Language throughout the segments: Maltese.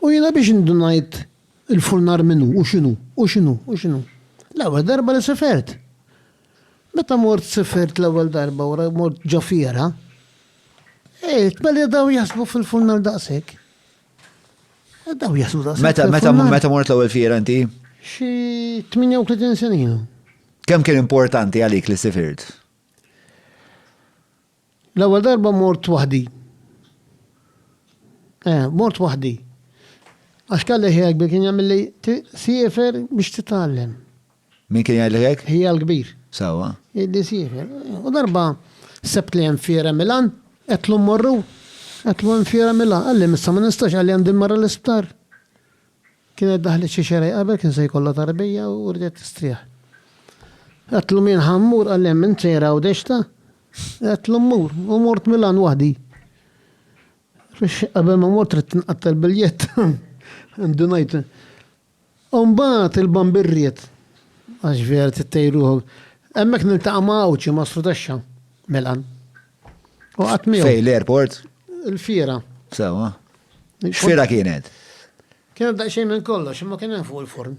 U jiena biex indunajt il-furnar min hu u x'inhu, u x'inhu, u x'inhu? L-ewwel darba li sifert. Meta mort sifert l-ewwel darba wara mort ġo fiera, eh, tbelli daw jaħsbu fil-furnar daqshekk. Eh, daw jaħsbu daqshekk. Meta, meta, meta mort l-ewwel fiera inti? Xi 38 sena. Kemm kien importanti għalik li sifirt? L-ewwel darba mort waħdi. Eh, mort waħdi. Għax kelli ħija kbir kien jagħmilli siefer biex titgħallem. Min kien jgħidlek hekk? Ħija l-kbir. Sewwa. Jgħidli siefer. U darba sebt li hemm fiera Milan, qedtlu mmorru, qedtlu hemm fiera Milan. Qalli missa ma nistax qalli għandi marra l-isptar. Kienet daħlet xi xerej qabel kien se jkollha tarbija u riedet tistrieħ. Għedtlu min ħa mmur qalli hemm int sejra hawn dexta? Għedtlu mmur u mort Milan waħdi. Fiex qabel ma mort ridt nqattel biljett. Ndunajt. U mbagħad il-bambir ried. Għax vera tittejruħu. Hemmhekk niltaqa' ma' għawġi ma' Srudexxa. Milan. U qatt miegħu. Fej l-airport? Il-fiera. Sewa. X'fiera kienet? Kienet daqsxejn minn kollox, imma kien hemm fuq il-forn.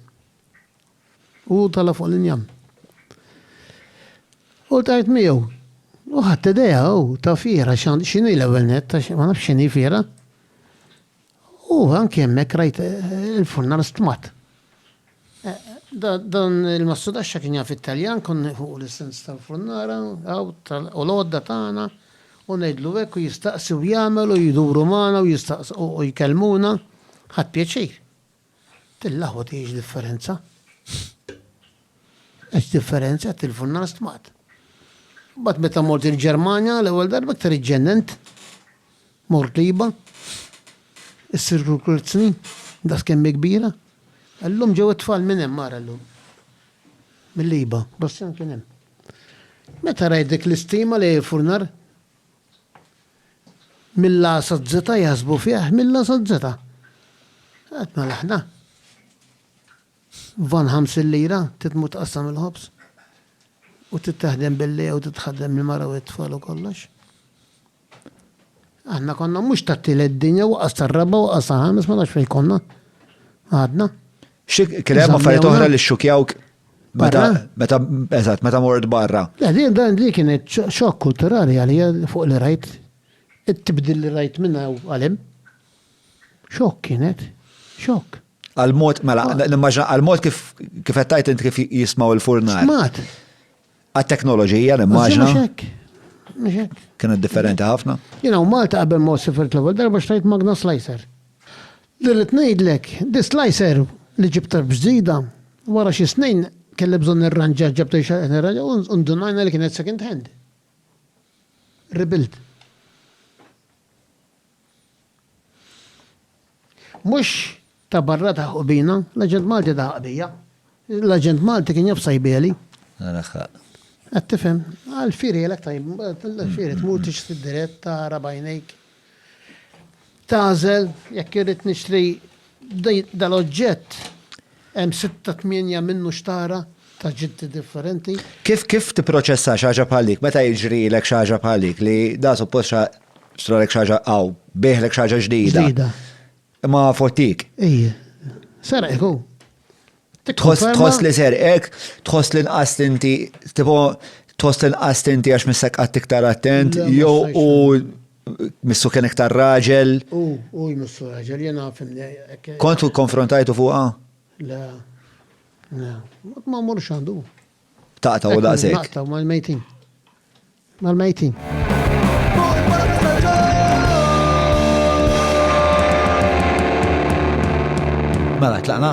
U tala fuq l-injam. U tajt miegħu. U ħadd idea u ta' fiera x'inhi l-ewwel net, ma nafx x'inhi fiera. U anki hemmhekk rajt il-furnar stmat. Dan il-massudaxxa kien jaf it-Taljan, kon nieħu l-isens tal-furnara, għaw, u l-għodda tagħna, u ngħidlu hekk u jistaqsi u jagħmel u jduru magħna u jistaqsu u jkellmuna, ħadt pjaċir. Tillaħwad hi x'differenza? Għax differenza qed tilfu n-nar stmat. Mbagħad meta mort il-Ġermanja l-ewwel darba iktar iġġennent. Mort liba. Issir kurkurzni, da skemmi kbira. Illum ġew it-tfal minn hemm ara llum. Mill-liba, Bassjan kien hemm. Meta rajt dik l-istima li furnar, Mill-A saz-Z jaħsbu fih mill-A saz-Z. Qed mela aħna. Van 50 lira titmu tqassam il-ħobż u titteħdem billi jew titħaddem il-mara u t-tfal u kollox. Aħna konna mhux tat-tielet dinja waqas tar-raba' waqas ħames ma nafx fejn konna. Għadna. Xi kien hemm affarijiet oħra li xxukjawk meta meta eżatt meta mort barra. Le din dan li kienet xokk kulturali għalija fuq li rajt it-tibdil li rajt minn hawn għalem. Xokk kienet, xokk. Għal-mod, mela, nimmaġna għal-mod kif qed tajt int kif jismaw il-furnat. Smat. Għat-teknoloġija, nimmaġna. Kienet differenti ħafna. Jina u Malta qabel ma sifirt l-ewwel darba xtajt magna slicer. Li rrid ngħidlek, di slicer li ġibta b'ġdida, wara xi snin kelli bżonn nirranġa ġabta xi nirranġa u ndunajna li kienet second hand. Rebuild. Mhux ta' barra taħqu bina, l-aġent Malti taħaq bija. L-aġent Malti kien jaf sajbieli. Raħaq. Qed tifhem? Għal firielek tajb, l-fieri tmur tixtri dirett tara bajnejk. Tagħżel jekk irrid nixtri dal-oġġett. Hemm sitta tmienja minnu xtara ta' ġiddi differenti. Kif kif tipproċessa xi ħaġa bħal dik meta jiġrilek xi ħaġa bħal dik li da suppost xa xtralek xi ħaġa aw biegħlek xi ħaġa ġdida. Ġdida. Imma fottik. Ejja. Serqek hu. Tħoss Tikkonferma- tħoss li serqek, tħoss li nqast inti tipo tħoss li nqast inti għax missek qatt iktar attent Le, ma jew jistajx. u Missu kien iktar raġel? U, u jmissu raġel, jena fimni. Kont u konfrontajtu fuqa? La, la, ma mur xandu. Taqta u daqsek. Taqta u mal-mejtin. Mal-mejtin. Mela, tlaqna?